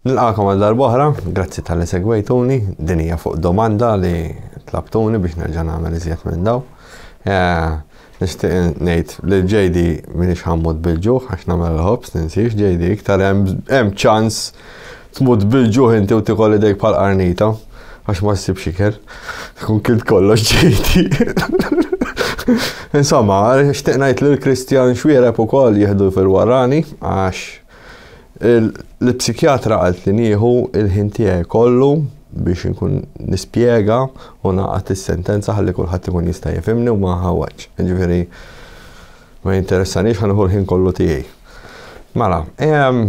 Nilqakom għal darb'oħra, grazzi talli segwejtuni, din hija fuq domanda li tlabtuni biex nerġa' nagħmel iżjed minn daw. Eh, nixtieq ngħid li ġejdi minix ħammut bil-ġuħ għax nagħmel il-ħobs ninsiex ġejdi iktar hemm ċans tmut bil-ġuħ inti u tikol idejk bħal qarnita għax ma ssibx ikel. Kun kint kollox ġejdi. Insomma, xtieq ngħid li l-Kristjan xwiereb ukoll jieħdu fil-warani għax Il-psikjatra qaltli nieħu l-ħin tiegħi kollu biex inkun nispjega u nagħqad is-sentenza ħalli kulħadd ikun jista' jifhimni u ma ħawwġ. Jiġifieri ma jinteressanix ħa nieħu l-ħin kollu tiegħi. Mela, ehm,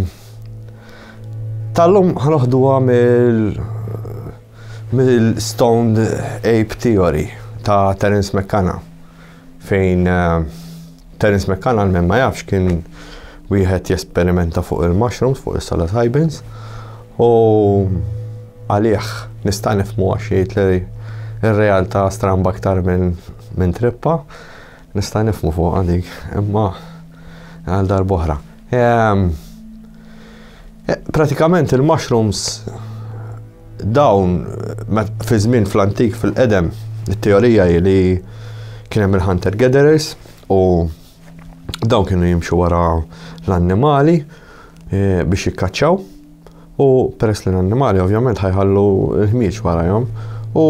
tal-lum ħanoħduha mill- mill-stoned ape theory ta' Terence McKenna. fejn Terence McCann għal ma jafx kien wieħed jesperimenta fuq il-mushrooms, fuq is-salat Hybens, u għalih nista' nifmu għax jgħid li r-realtà stramba aktar minn min trippa, nista' nifmu fuq għalik, imma għal darbohra. Ehm, Eh, pratikament il-mushrooms dawn fi żmien fl-antik fil-qedem it-teorija li kien hemm il-hunter gatherers u dawn kienu jimxu wara l-annimali eh, biex jikkaċċaw u peress li l-annimali ovvjament ħajħallu l-ħmieġ warajhom u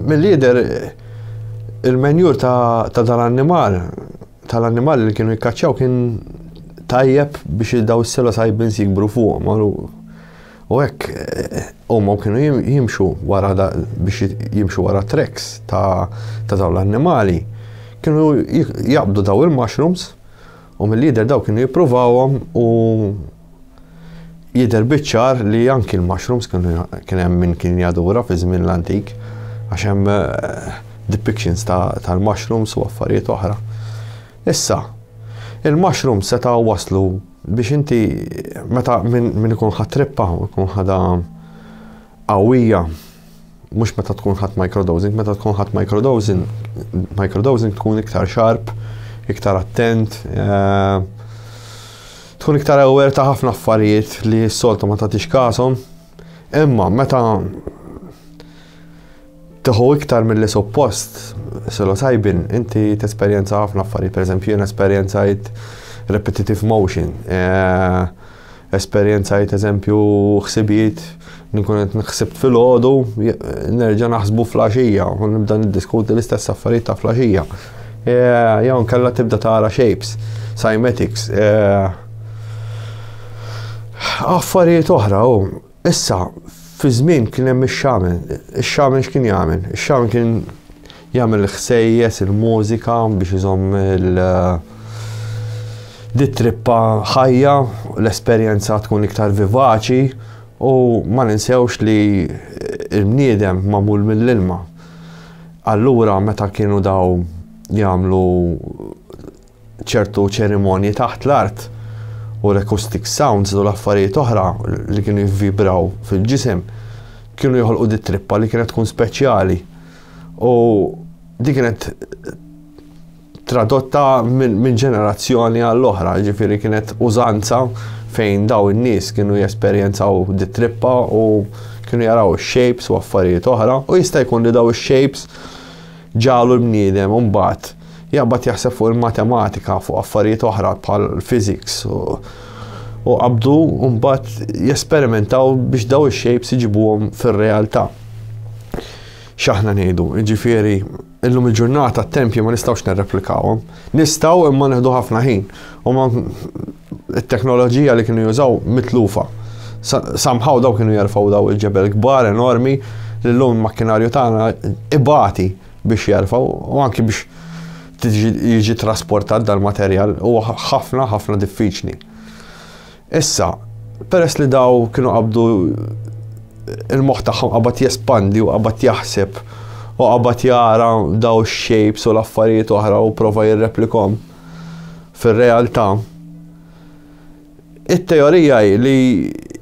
mill-lider il-menjur ta' dal-annimal tal-annimali li kienu jikkaċċaw kien tajjeb biex daw is-sela sajbins jikbru fuqhom. U hekk eh, huma kienu jimxu wara biex jimxu wara treks ta' dawn l-annimali. Kienu jaqbdu daw il-mushrooms u mill-lider daw kienu jippruvawhom u Jidher biċ-ċar li anki l-mushrooms kienu kien hemm min kien jadura fi żmien l-antik għax hemm eh, depictions tal-mushrooms u affarijiet oħra. Issa, il-mushrooms seta' waslu biex inti meta min ikun ħatrippa, ikun ħada qawwija, mhux meta tkun ħadt microdosing, meta tkun ħadt microdosing, microdosing tkun iktar sharp, iktar attent, eh, tkun iktar aware ta' ħafna affarijiet li s-soltu ma tagħtix kasom. Imma meta Tieħu iktar milli suppost, psilocybin, inti tesperjenza ħafna affarijiet, pereżempju jien esperjenzajt repetitive motion, eh, esperjenzajt eżempju ħsibijiet nkun qed nħsibt fil-ħodu, nerġa' naħsbu flaxija, u nibda niddiskuti l-istess affarijiet ta' flaxija. E, jew nkella tibda tara shapes, cymatics, e, affarijiet oħra u Issa, fi żmien kien hemm ix-xamen. Ix-xamen x'kien jagħmel? Ix-xamen kien jagħmel il-ħsejjes, il-mużika biex iżomm il- di trippa ħajja, l-esperjenza tkun iktar vivaċi u ma ninsewx li il-bniedem magħmul mill-ilma. Allura meta kienu daw jagħmlu ċertu ċerimonji taħt l-art u l-acoustic sounds u l-affarijiet oħra li kienu jivvibraw fil-ġisem kienu joħolqu di trippa li kienet tkun speċjali. U di kienet tradotta minn min ġenerazzjoni għall-oħra, ġifiri kienet użanza fejn daw in-nies kienu jesperjenzaw di trippa u kienu jaraw shapes u affarijiet oħra u jista' jkun li daw shapes Ġagħlu l-bniedem imbagħad jaqbad jaħseb fuq il-matematika, fuq affarijiet oħra bħal physics u u qabdu mbagħad jesperimentaw biex daw ix-shapes iġibuhom fir-realtà. X'aħna ngħidu, jiġifieri illum il-ġurnata t-tempji ma nistgħux nirreplikawhom. Nistgħu imma nieħdu ħafna ħin. Huma it-teknoloġija li kienu jużaw mitlufa. Samħaw daw kienu jerfgħu daw il-ġebel kbar enormi li l-lum makkinarju tagħna ibati biex jerfgħu u anki biex jiġi trasportat dal-materjal u ħafna ħafna diffiċli. Issa, peress li daw kienu qabdu il-moħħ tagħhom qabad jespandi u qabad jaħseb u qabad jara daw ix-shapes u l-affarijiet oħra u prova jirreplikom fir-realtà. It-teorija hi li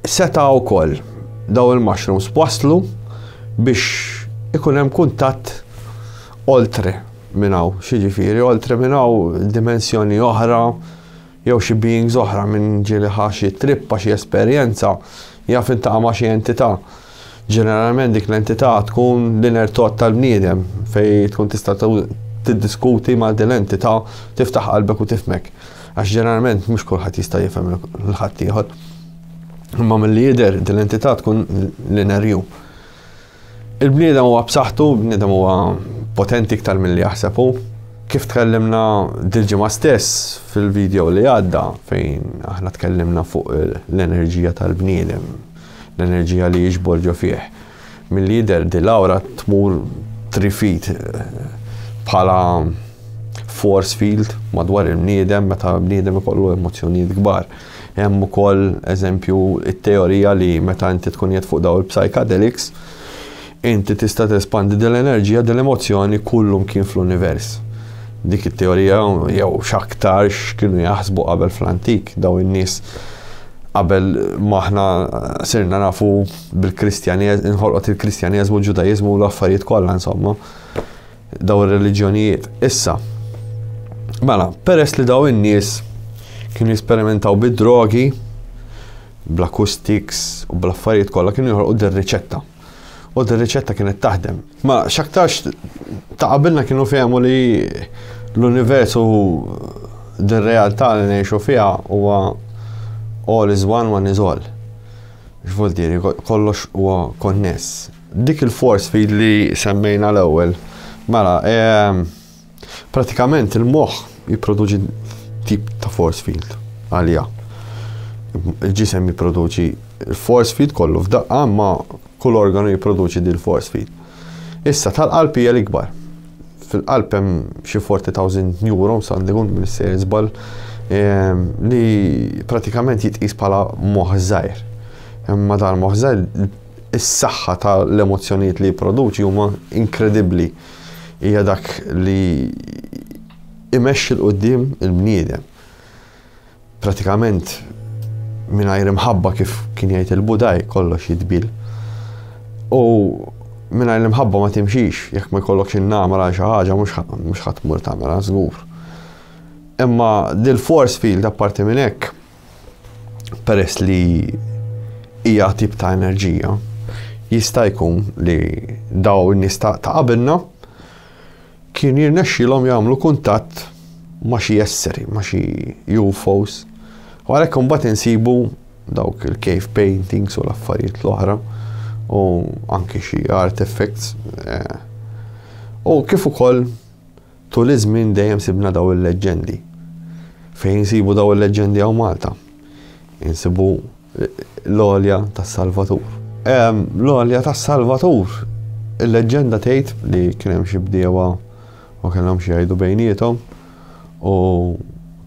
seta' wkoll daw il-mushrooms waslu biex ikun hemm kuntatt oltre minn hawn, xi ġifieri oltre minn hawn dimensjoni oħra, jew xi beings oħra, min ġieli ħa xi trippa, xi esperjenza, jaf iltaqa' ma' xi entità. Ġeneralment dik l-entità tkun l-inner thought tal-bniedem fejn tkun tista' tiddiskuti ma' din l-entità, tiftaħ qalbek u tifhmek. Għax ġeneralment mhux kulħadd jista' jifhem lil ħaddieħor. Imma milli jidher din l-entità tkun l-inner you. Il-bniedem huwa b'saħħtu, il-bniedem huwa potenti iktar milli jaħseb hu. Kif tkellimna dil-ġimgħa stess fil-video li għadda fejn aħna tkellimna fuq l-enerġija tal-bniedem, l-enerġija li jiġbor ġo fih. Milli jidher di l-awra tmur trifit bħala force field madwar il-bniedem meta bniedem ikollu emozzjonijiet kbar. Hemm ukoll eżempju it-teorija li meta inti tkun jed fuq daw il-psychedelics, inti tista' tespandi din l-enerġija din l-emozzjoni kullum kien fl-univers. Dik it-teorija jew x'aktarx kienu jaħsbu qabel fl-antik daw in-nies qabel maħna sirna nafu bil-Kristjaneż, inħolqot il-Kristjaneżmu, l-Ġudajeżmu u l-affarijiet kollha insomma. daw ir-reliġjonijiet issa. Mela, peress li daw in-nies kienu jesperimentaw bid-drogi, bl-acoustics u bl-affarijiet kollha kienu joħolqu dir-riċetta. U dir-riċetta kienet taħdem. Ma x'aktarx ta' qabilna kienu fehmu li l-univers u dir-realtà li ngħixu fiha huwa all is one, one is all. X'vuol kollox huwa konness. Dik il-force feed li semmejna l-ewwel, mela, ehm, pratikament il-moħħ jipproduċi tip ta' force field għalija. Il-ġisem jipproduċi il-force field kollu f'daqqa ma kull organu jipproduċi dil force field. Issa tal-qalb hija l-ikbar. Fil-qalb hemm xi 40,000 neurons għandi kun minn sejr żball ehm, li pratikament jitqis bħala moħżajr. Imma dal-moħżajr is-saħħa ta' l-emozzjonijiet li jipproduċi huma inkredibbli. Hija dak li imexxi l qudiem il-bniedem. Pratikament mingħajr imħabba kif kien jgħid il-Budaj kollox jitbil. U mingħajr l-imħabba ma timxix, jekk ma jkollokx in-namra xi ħaġa mhux ħadd mur tagħmilha żgur. Imma dil-force field apparti minn hekk peress li hija tip ta' enerġija, jista' jkun li daw in-nies ta' qabilna kien jirnexxilhom jagħmlu kuntatt ma' xi esseri, ma' xi UFOs. U għalhekk imbagħad insibu dawk il-cave paintings u l-affarijiet l-oħra u anki xi artifacts. Eh, u kif ukoll Tul iż-żmien dejjem sibna dawn il-leġġendi. Fejn insibu dawn il-leġġendi hawn Malta? Insibu l-għolja tas-Salvatur. L-għolja tas-Salvatur, il-leġġenda tgħid li kien hemm xi bdiewa u kellhom xi jgħidu bejniethom u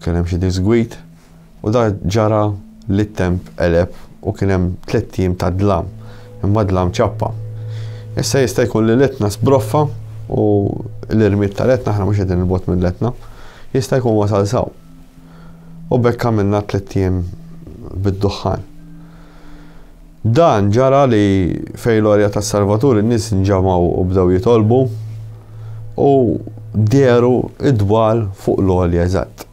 kien hemm xi disgwid. U dak ġara li t-temp qeleb u kien hemm tliet ijiem ta' dlam, imma dlam ċappa. Issa jista' jkun li l-Etna sbroffa u l-irmied tal-Etna, aħna mhux qegħdin 'il bogħod mill-Etna, jista' jkun wasal s'hawn. U b'hekk għamilna tliet ijiem bid-duħħan. Dan ġara li fejn l-għorja tas-Salvatur in-nies nġamgħu u bdew jitolbu u dehru d-dwal fuq l-għolja eżatt.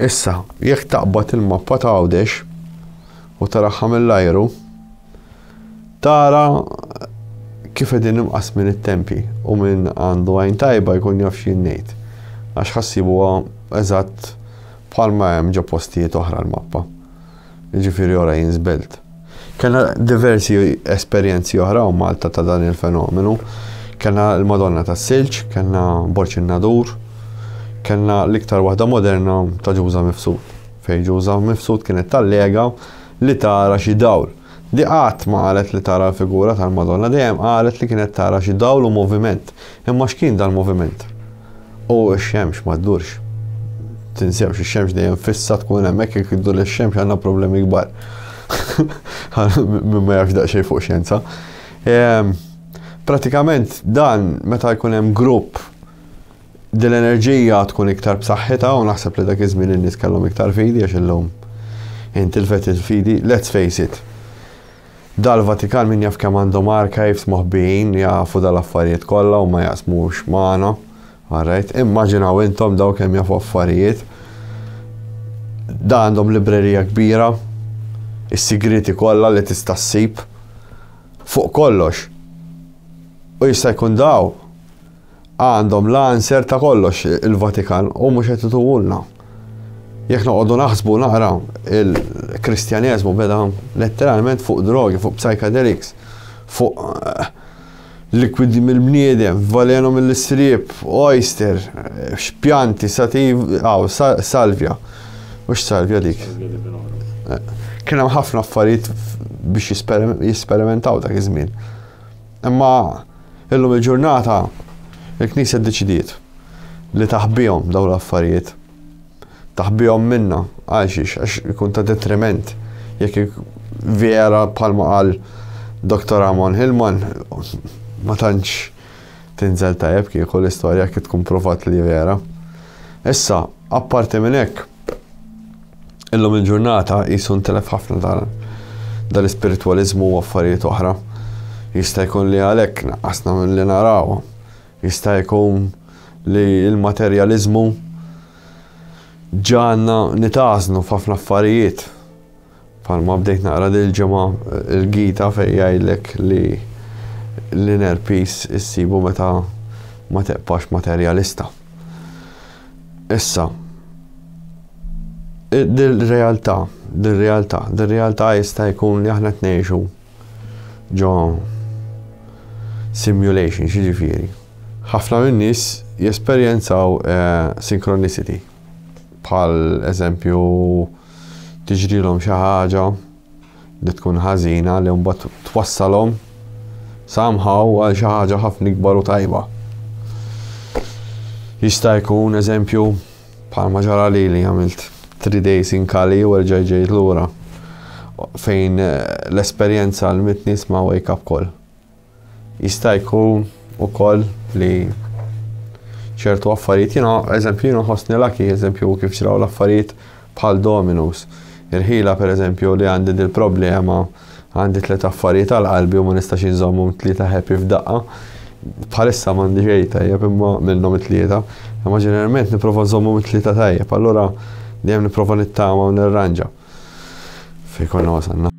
Issa, jekk taqbad il-mappa ta' Għawdex u taraha mill-ajru, tara kif qegħdin imqasmin it-tempji u min għandu għajn tajba jkun jaf xi ngħid għax ħassibuha eżatt bħalma hemm ġo postijiet oħra l-mappa. jiġifieri ora jien żbellt. Kellna diversi esperjenzi oħra hawn Malta ta' dan il-fenomenu. Kellna l-Madonna tas-Silġ, kellna Borċ in-Nadur, kellna l-iktar waħda moderna ta' Ġuża Mifsud. Fejn Ġuża Mifsud kienet tallega li tara xi dawl. Di qatt ma qalet li tara l-figura tal-Madonna, dejjem qalet li kienet tara xi dawl u moviment. Imma x'kien dal-moviment? U x-xemx ma ddurx. Tinsewx ix-xemx dejjem fissa tkun hemmhekk jekk iddur ix-xemx għandna problemi kbar. Min ma jafx daqsxejn fuq xjenza. Ehm, pratikament dan meta jkun hemm grupp din l-enerġija tkun iktar b'saħħitha u naħseb li dak iż-żmien in-nies kellhom iktar fidi għax illum intilfet il-fidi, let's face it. Dal-Vatikan min jaf kemm għandhom archives moħbijin li jafu dal-affarijiet kollha u ma jaqsmux magħna. All right, immaġinaw intom daw kemm jafu affarijiet. Da għandhom librerija kbira, is-sigriti kollha li tista' ssib fuq kollox. U jista' jkun daw Għandhom l-answer ta' kollox il-Vatikan u mhux qed ituhulna. Jekk noqogħdu naħsbu naqra il-Kristjaneżmu beda letteralment fuq drogi, fuq psychedelics, fuq eh, likwidi mill-bniedem, valenu mill-istrib, oyster, eh, xpjanti, sativ, aw, salvja. Mhux salvja dik. Eh, kien hemm ħafna affarijiet biex jisperimentaw dak iż-żmien. Imma illum il-ġurnata il-Knisja ddeċidiet li taħbihom dawn l-affarijiet. Taħbihom minna għal xiex għax ikun ta' detriment jekk vera bħalma qal Dr. Amon Hillman ma tantx tinżel tajjeb kieku l-istorja kif tkun provat li vera. Issa, apparti minn hekk, Illum il-ġurnata qisu ntelef ħafna dan dal-ispiritwaliżmu u affarijiet oħra. Jista' jkun li għalhekk naqqasna milli narawhom. Jista' jkun li l-materjaliżmu ġagħalna nitgħażnu f'ħafna affarijiet. Bħalma bdejt naqra dil-ġimgħa il-Gita fejn jgħidlek li l-inner peace issibu meta ma tibqax materjalista. Issa, dil-realtà, dil-realtà, dil-realtà jista' jkun li aħna tnejxu ġo simulation, xiġifieri. Ħafna minn nies jesperjenzaw eh, synchronicity, bħal eżempju tiġrilhom xi ħaġa li tkun ħażina li mbagħad twassalhom somehow għal xi ħaġa ħafna ikbar u tajba. Jista' jkun eżempju bħalma ġara li li għamilt 3 days in Kali u erġa' ġejt lura fejn eh, l-esperjenza l-mitnis ma' wake up call. Jista' jkun ukoll li ċertu affarijiet jiena eżempju jiena ħossni laki eżempju kif ġraw l-affarijiet bħal Dominus. Il-ħila pereżempju li għandi din problema għandi tliet affarijiet għal qalbi u ma nistax inżommhom tlieta happy f'daqqa. Bħalissa m'għandi xejn tajjeb imma minnhom it-tlieta. Imma ġeneralment nipprova nżommhom it-tlieta tajjeb, allura dejjem nipprova nittama u nirranġa. Fejn konna wasalna.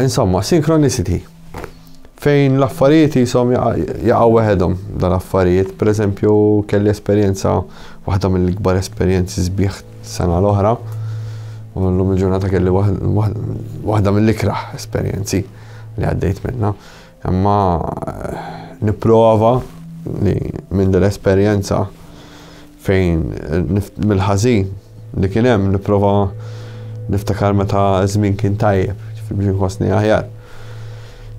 Insomma, synchronicity. Fejn l-affarijiet jisom jaqaw weħedhom dan affarijiet, per eżempju, kelli esperjenza, waħda mill-ikbar esperjenzi sbieħ sena l-oħra, u l-lum il-ġurnata kelli waħda mill-ikraħ esperjenzi li għaddejt minna. Imma eh, niprova li minn dell-esperjenza Fejn mill-ħażin li kien hemm nipprova niftakar meta żmien kien tajjeb, biex nħossni aħjar.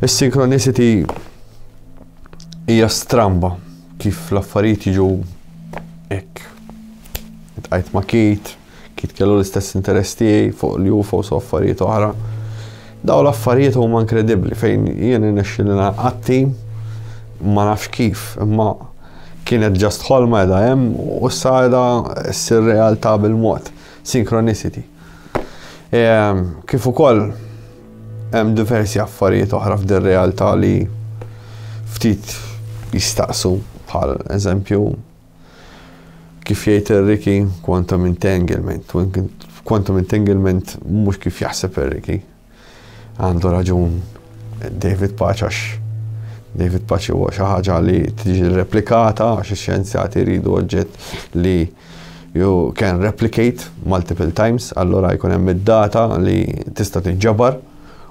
Is-synchronicity hija stramba kif l-affarijiet jiġu hekk. Tqajt ma' kit, Kid kellu l-istess interess tiegħi fuq l-UFOs u affarijiet oħra. Daw l-affarijiet huma inkredibbli fejn jien irnexxieli naqatti ma nafx kif, imma kienet ġast ħolma edha hemm u issa edha ssir realtà bil-mod, synchronicity. E, kif ukoll hemm diversi affarijiet oħra f'dir realtà li ftit jistaqsu bħal eżempju Kif jgħid Enrique, quantum entanglement. Quantum entanglement mhux kif jaħseb Enrique. Għandu raġun David Paċ għax David Paċ huwa xi ħaġa li tiġi replikata għax ix-xjenzjati jridu oġġett li you can replicate multiple times, allora jkun hemm id-data li tista' tiġġabar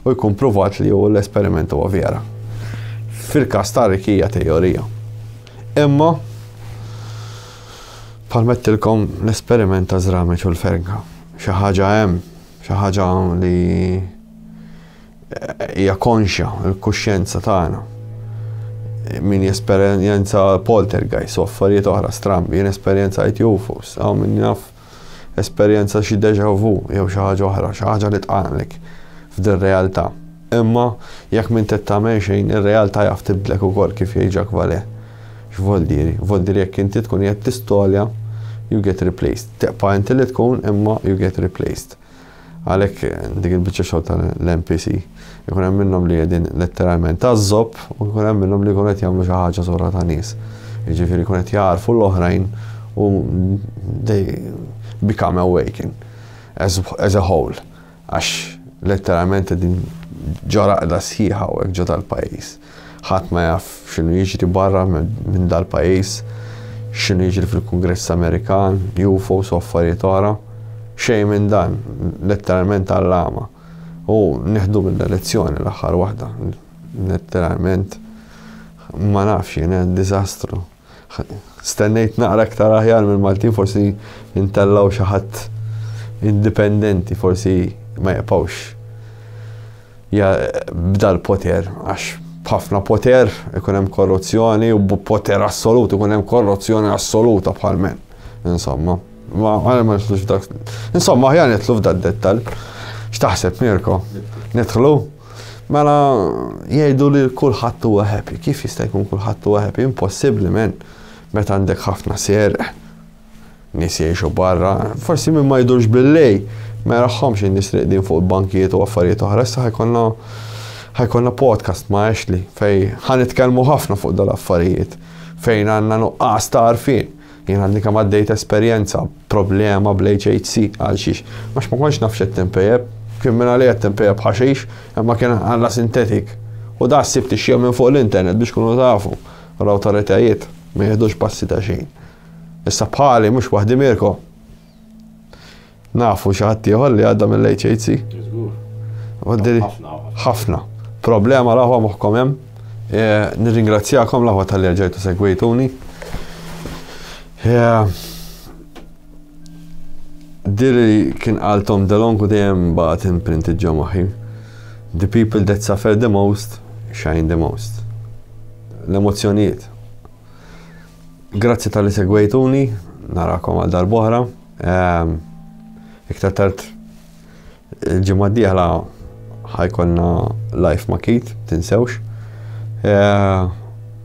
u jkun pruvat li hu l-esperiment huwa vera. Fil-każ ta' Rick hija teorija. Imma palmettilkom l-esperiment ta' żrameċ u l-ferga. Xi ħaġa hemm, xi ħaġa li eh, hija konxja l-kuxjenza tagħna. Min jesperjenza poltergeist u affarijiet oħra strambi, jien esperjenza jtjufus, għaw min jaf esperjenza xi déjà vu jew xi ħaġa oħra, xi ħaġa li tqanqlek f'dir-realtà. Imma jekk m'int qed tagħmel xejn, ir-realtà jaf tibdlek ukoll kif jgħid Jacques Vallée. X'vol diri? Vol diri jekk inti tkun qiegħed tistolja, you get replaced. Tibqa' inti li tkun imma you get replaced. Għalhekk dik il-biċċa xogħol tal-MPC ikun hemm minnhom li qegħdin letteralment tażżob u jkun hemm minnhom li jkunu qed jagħmlu xi ħaġa sura ta' nies. Jiġifieri jkun qed jagħrfu l-oħrajn u they become awaken as, as a whole. Għax letteralment qegħdin ġoraqda sħiħa u ġo tal-pajjiż. Ħadd ma jaf x'inhu jiġri barra minn dal-pajjiż, x'inhu jiġri fil-Kungress Amerikan, UFOs u affarijiet oħra. Xejn minn dan, letteralment għall-għama. U nieħdu minnha lezzjoni l-aħħar waħda. Letteralment ma nafx jien, diżastru. Stennejt naqra iktar aħjar mill-Maltin forsi intellaw xi ħadd indipendenti forsi ma jaqpawx ja bda l-poter għax b'ħafna poter ikun hemm korruzzjoni u b'poter assolut ikun hemm korruzzjoni assoluta bħal men. Insomma, ma għal ma nitlux dak. Insomma, aħjar nitlu f'dak dettal. X'taħseb Mirko? Nidħlu? Mela jgħidu li kulħadd huwa happy. Kif jista' jkun kulħadd huwa happy? Impossibbli men. Meta għandek ħafna sierq, nies jgħixu barra, forsi min ma jdurx billej, ma jaraħħomx in-nies riqdin fuq il-bankijiet u affarijiet oħra, issa ħajkonna ħajkonna podcast ma' Ashley fej ħanitkellmu ħafna fuq dal-affarijiet fejn għandna nuqqas ta' għarfien. Jien għadni kemm għaddejt esperjenza, problema bl-HHC. Għalxiex? Għax ma kontx naf x'qed tinpejep. Kien mingħalija qed tinpejep ħaxix, imma kien għalla sintetik. U da sibt ix-xhieda minn fuq l-internet biex tkunu tafu. U l-awtoritajiet ma jiħdux passi ta' xejn. Issa bħali, mhux waħdi Mirko. Nafu xi ħadd ieħor li għadda mill-HHC? Żgur. Ħafna. Ħafna. Problema l-aħwa moħħkom hemm. E, nirringrazzjakom l-aħwa tal-li ġejtu segwejtuni. E, Diri kien għaltom delonku dejjem baqgħet imprint ġo moħħi. The people that suffer the most shine the most. L-emozzjonijiet. Grazzi tal-li segwejtuni, narakom għal darbohra. Ehm, iktar tard il-ġimgħa d-dieħla ħajkonna live ma' Kit, tinsewx. Ehm,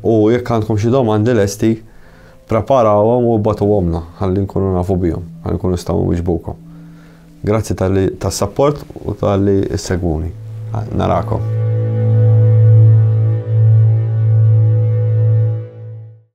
u jekk għandkom xi domandi lesti, preparawhom u batu għomna, ħalli nkunu nafu bihom, ħalli nkunu staw wieġbukom. Grazzi tal-li tas-sapport u tal-li s-segwuni. Narakom.